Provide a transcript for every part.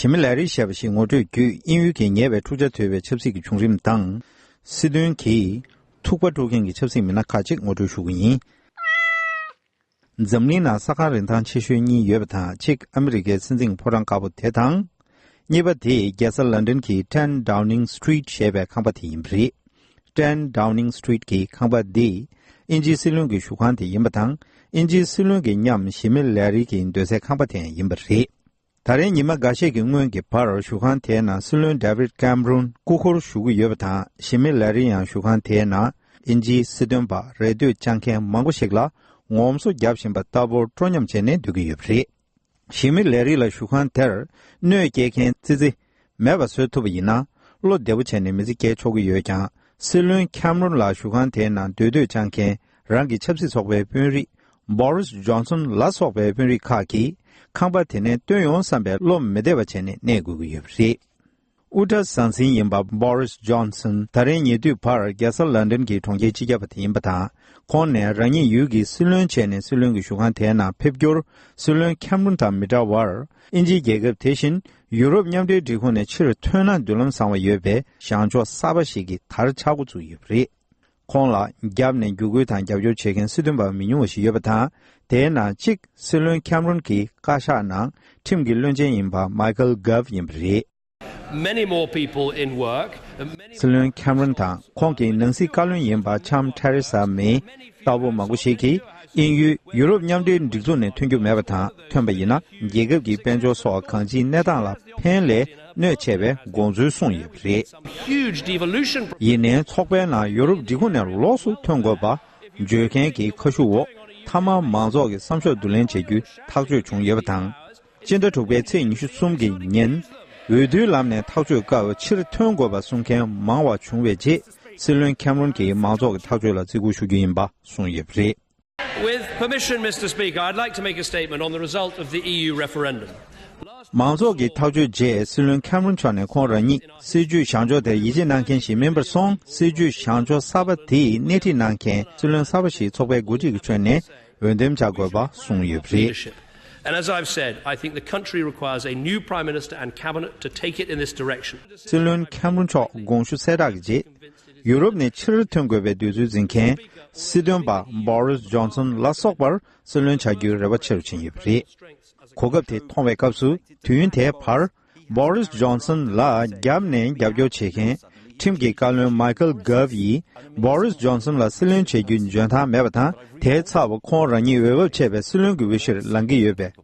ཞི་མི་ལའི་རིགས་ཞེས་པ་ཞིག་ངོ་སྤྲོད་བརྒྱུད་དབྱིན་ཡུལ་གྱི་ཉེ་བའི་འཁྲུག་ཆ་དོད་པའི་ཆབ་སྲིད་ཀྱི་བྱུང་རིམ་དང། སྲིད་དོན་གྱིས་ཐུག་པ་དཀྲུགས་མཁན་གྱི་ཆབ་སྲིད་མི་སྣ་ཁག་ཅིག་ངོ་སྤྲོད་ཞུ་གི་ཡིན། འཛམ་གླིང་ནང་ས་ཁང་རིན་ཐང་ཆེ་ཤོས་གཉིས་ཡོད་པ་དང་གཅིག་ཨ་མི་རི་ཀའི་སྲིད་འཛིན་ཕོ་བྲང་དཀར་པོ་དེ་དང། གཉིས་པ་དེ་རྒྱལ་ས་ལན་ཏན་གྱི Ten Downing Street ཞེས་པའི་ཁང་པ་དེ་ཡིན་པ་རེད། Ten Downing Street གྱི་ཁང་པ་འདི་དབྱིན་ཇིའི་སྲིད་བློན་གྱི་བཞུགས་ཁང་དེ་ཡིན་པ་དང་དབྱིན་ཇིའི་སྲིད་བློན་གྱི་མཉམ་ཞི་མི་ལའི་རིགས་ཀྱི་སྡོད་སའི་ཁང་པ་དེའང་ཡིན་པ་རེད། ད་རིང་ཉི་མ་འགའ་ཤས་ཀྱི་སྔོན་གྱི་བར་བཞུགས་ཁང་དེའི་ནང་སྲིད་བློན David Cameron སྐུ་འཁོར་བཞུགས་ཀྱི་ཡོད་པ་དང་ཞི་མི་ལ་རི་ཡང་བཞུགས་ཁང་དེའི་ནང་དབྱིན་ཇིའི་སྲིད་དོན་པ་རེ་ལྟོས་བཅངས་མཁན་མང་པོ་ཞིག་ལ་ངོམ་སོ་བརྒྱབ་བཞིན་པ་ལྟ་བུར་སྤྲོ་ཉམས་བྱས་ནས་སྡོད་ཀྱི་ཡོད་པ་རེད། ཞི་མི་ལ་རི་ལ་བཞུགས་ཁང་དེར་གནོད་སྐྱེལ་མཁན་ཙི་ཙི་མེད་པ་བཟོས་ཐུབ་པ་ཡིན་ན་བློ་བདེ་པོ་བྱས་ནས་མི་ཚེ་བསྐྱལ་ཆོག་གི་ཡོད་ཀྱང་སྲིད་བློན་ཁཱམ་རོན་ལགས་བཞུགས་ཁང་དེའི་ནང་སྡོད་སྡོད་སྤྱང་མཁན་རང་གི་ཆབ་སྲིད་ཚོགས་པའི་དཔོན་རིགས Boris Johnson ལ་སོགས་པའི་དཔོན་རིགས་ཁག་གིས་ཁང་པ་དེ་ནས་བཏོན་ཡོང་བསམ་པའི་བློ་མི་བདེ་བ་བྱས་ནས་གནས་དགོས་ཀྱི་ཡོད་པ་རེད། དབུ་སྐྲ་ཟང་ཟིང་ཡིན་པ Boris Johnson ད་རེས་ཉེ་དུས་བར་རྒྱལ་ས London གྱི་གྲོང་ཁྱེར་སྤྱི་ཁྱབ་པ་དེ་ཡིན་པ་དང་ཁོང་ནས་རང་ཉིད་ཡུལ་གྱི་སྲིད་བློན་བྱས་ནས་སྲིད་བློན་གྱི་བཞུགས་ཁང་དེའི་ནང་ཕེབས་རྒྱུར་སྲིད་བློན་ཁཱམ་རོན་དང་མི་འདྲ་བར་ཨིན་ཇིའི་རྒྱལ་ཁབ་དེ་བཞིན་ཡུ་རོབ་མཉམ་འབྲེལ་སྒྲིག་ཁོངས་ནས་ཕྱིར་ཐོན་ན་མདུན་ལམ་བཟང་བ་ཡོད་པའི་བྱང་ཕྱོགས་གསར་པ་ཞིག་གིས་དར་ཆ་འགོ་བཙུགས་ཡོད་པ་རེད། ཁོང་ལ་རྒྱབ་ནས་བརྒྱུད་སྐུལ་དང་རྒྱབ་སྐྱོར་བྱེད་མཁན་སྲིད་དོན་པ་མི་ཉུང་བ་ཞིག་ཡོད་པ་དང་དེའི་ནང་གཅིག་སྲིད་བློན་ཁེམ་རོན་གྱི་བཀའ་ཤག་ནང་ཁྲིམས་ཀྱི་བློན་ཆེན་ཡིན་པ་མཱི་ཀལ་གྷབ་ཡིན་པ་རེད། སྲིད་བློན་ཁེམ་རོན་དང་ཁོང་གི་ནང་སྲིད་བཀའ་བློན་ཡིན་པ་ཆམ་ཐེ་རེ་སཱ་མེ་ལྟ་བུ་མང་པོ་ཞིག་གིས་དབྱིན་ཡུལ་ཡུ་རོབ་མཉམ་འབྲེལ་སྒྲིག་འཛུགས་ནས་ཐོན་རྒྱུ་མེད་པ་དང་ཐོན་པ་ཡིན་ན་རྒྱལ་ཁབ་ཀྱི་དཔལ་འབྱོར་སོགས་གང་ཅིའི་གནས་སྟངས་ལ་ཕན་ལས་གནོད་ཆེ་བའི་དགོངས་ཚུལ་གསུངས་ཡོད་པ་རེད། ཡིན་ནའི་ཚོགས་པའི་ནང་ཡུ་རོབ་འབྲི་གུང་ནས་ལོགས་སུ་ཐོན་དགོས་པ་བརྗོད་མཁན་གྱི་ཁ་ཤུ་འོག་མཐའ་མར་མང་ཚོགས་ཀྱི་བསམ་ཤོག་བསྡུ་ལེན་བྱེད་རྒྱུ་ཐག་གཅོད་བྱུང་ཡོད་པ་དང། སྤྱི་ཟླ་དྲུག་པའི་ཚེས་ཉི་ཤུ་གསུམ་གྱི་ཉིན་འོས་བསྡུའི་ལམ་ནས་ཐག་གཅོད་སྐབས་ཕྱིར་ཐོན་དགོས་པ་གསུང་མཁན་མང་བ་བྱུང་བའི་རྗེས་སྲིད་བློན་ཁེམ་རོན་གྱིས་མང་ཚོགས་ཀྱི་ཐག་གཅོད་ལ་བརྩི་བཀུར་ཞུ་རྒྱུ་ཡིན་པ་གསུངས་ཡོད་པ་རེད། མང་ཚོགས་ཀྱི་ཐག་གཅོད་རྗེས་སྲིད་བློན་ཁེམ་རོན་མཆོག་ནས་ཁོང་རང་ཉིད་སྲིད་ཇུས་བྱང་ཕྱོགས་དེར་ཡིད་ཆེས་གནང་མཁན་ཞིག་མིན་པར་སོང་སྲིད་ཇུས་བྱང་ཕྱོགས་གསར་པ་དེ་སྣེ་ཁྲིད་གནང་མཁན་སྲིད་བློན་གསར་པ་ཞིག་ཚོགས་པའི་འགོ་ཁྲིད་ཀྱི་ཁྲོད་ནས་འོས་འདེམས་བྱ་དགོས་པ་གསུངས་ཡོད་པ་རེད། སྲིད་བློན་ཁེམ་རོན་མཆོག་དགོངས་ཞུ་གསལ་བསྒྲགས་ཀྱི་རྗེས་ཡུ་རོབ་ནས་ཕྱིར་ཐོན་དགོས་པའི་འདོད་ཚུལ་འཛིན་མཁན་སྲིད་དོན་པ Boris Johnson ལ་སོགས་པར་སྲིད་བློན་བྱ་རྒྱུའི་རེ་བ་ཆེ་རུ་ཕྱིན་ཡོད་པ་རེད། གོ་སྐབས་དེ་མཐོང་བའི་སྐབས་སུ་དུས་ཡུན་དེའི་བར Boris Johnson ལ་རྒྱབ་ནས་རྒྱབ་སྐྱོར་བྱེད་མཁན་ཁྲིམས་ཀྱི་བཀའ་བློན Michael Gove ཡིས Boris Johnson ལ་སྲིད་བློན་བྱེད་རྒྱུའི་འཇོན་ཐང་མེད་པ་དང་དེའི་ཚབ་ཁོང་རང་ཉིད་འོས་བབ་ཆད་པའི་སྲིད་བློན་གྱི་འོས་གཞིར་ལང་གི་ཡོད་པས།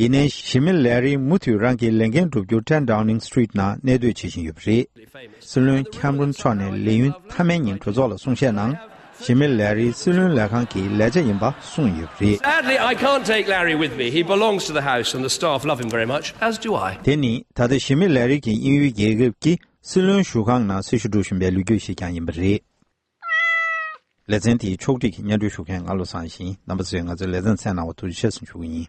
ཡིན་ནའི་ཞི་མི་ལའེ་རིང་མུ་མཐུད་རང་གི་ལས་འགན་བསྒྲུབ་རྒྱུར་ཀྲན་ཀྲང་ནིང Street ནང་གནས་སྡོད་བྱེད་བཞིན་ཡོད་པ་རེད། སྲིད་བློན་ཁེམ་རོན་མཆོག་ནས་ལས་ཡུན་མཐའ་མའི་ཉིན་གྲོས་ཚོགས་ལ་གསུང་བཤད་ནང་ཞི་མི་ལའེ་རིང་སྲིད་བློན་ལས་ཁང་གི་ལས་བྱ་ཡིན་པ་གསུངས་ཡོད་པ་རེད། དེ་ནི་ད་ལྟ་ཞི་མི་ལའེ་རིང་གིས་དབྱིན་ཡུལ་རྒྱལ་ཁབ་ཀྱི་སྲིད་བློན་བཞུགས་ཁང་ནང་སྲི་ཞུ་སྒྲུབ་བཞིན་པའི་ལོ་རྒྱུས་ཤིག་ཀྱང་ཡིན་པ་རེད། ལེ་ཚན་དེའི་ཕྱོགས་སྒྲིག་གི་སྙན་སྒྲོན་ཞུ་མཁན་ང་བློ་བཟང་ཞིང་རྣམ་པ་ཚོས་ང་ཚོའི་ལས་བྱ་མཚན་གནང་བ་ཐུགས་རྗེ་ཆེ་ཞུ་གི་ཡིན།